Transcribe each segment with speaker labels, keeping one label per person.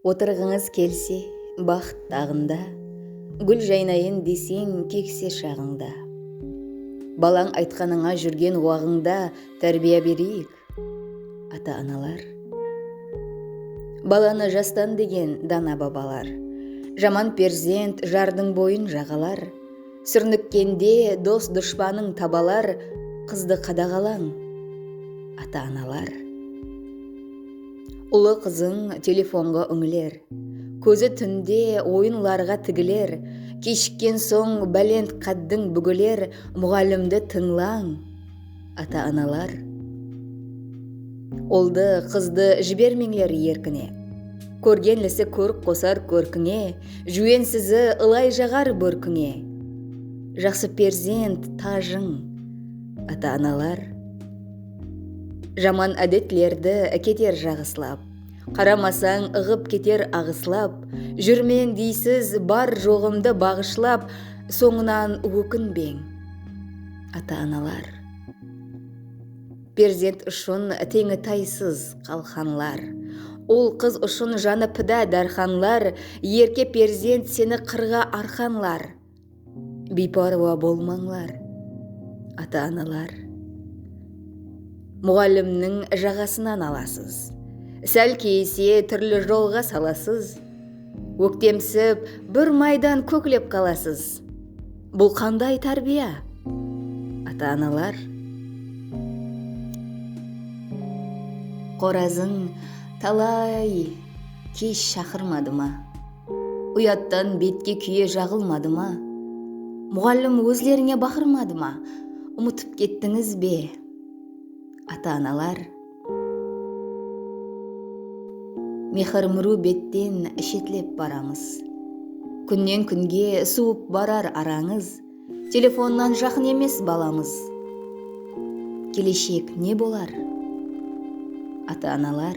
Speaker 1: Otırǵıńız kelse baxıt taǵında, Gúl jaynayın deseń kekse shaǵıńda. Balań aytqanıńa júrgen waǵıńda Tárbiya bereyik, Ata-analar Balanı jastan degen dana babalar Jaman perzent jardıń boyın jaǵalar Súrnikkende dos-dushpanıń tabalar Qızdı qadaǵalań ata-analar Ulı qızıń telefonǵa úńiler Kózi túnde oyınlarǵa tigiler Keshikken soń bálent qáddiń búgiler Muǵallimdi tıńlań Ata-analar, Uldı, qızdı jibermeńler erkine, Kórgenlisi kórk qosar kórkińe, Júwensizi ılay jaǵar bórkińe, Jaqsı perzent, tajıń. Ata-analar, Jaman ádetlerdi keter jaǵıslap, Qaramasań ıǵıp keter aǵıslap, Júrmeń deysiz bar-joǵımdı baǵıshlap, Sońınan ókinbeń. Ata-analar. Perzent ushın teńi taysız qalqanlar. Ul-qız ushın janı pida dárxanlar, Erke perzent seni qırǵa arqanlar. Biypárwa bolmańlar, ata-analar. Muǵallimniń jaǵasınan alasız, Sál keyise túrli jolǵa salasız, Óktemsip, bir maydan kóklep qalasız. Bul qanday tárbiya? Ata-analar. Qorazıń talay kesh shaqırmadı ma? Uyattan betke kúye jaǵılmadı ma? Muǵallim ózlerińe baqırmadı ma? Umıtıp kettińiz be? Ata-analar. Mehir mru betten shetlep baramız Kúnnen kúnge suwıp barar arańız Telefonnan jaqın emes balamız Keleshek ne bolar? Ata-analar.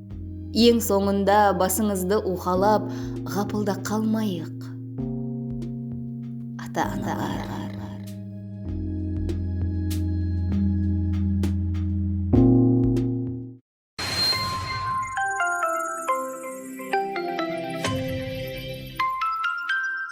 Speaker 1: Eń sońında basıńızdı uwxalap ǵapılda qalmayıq, ata-analar!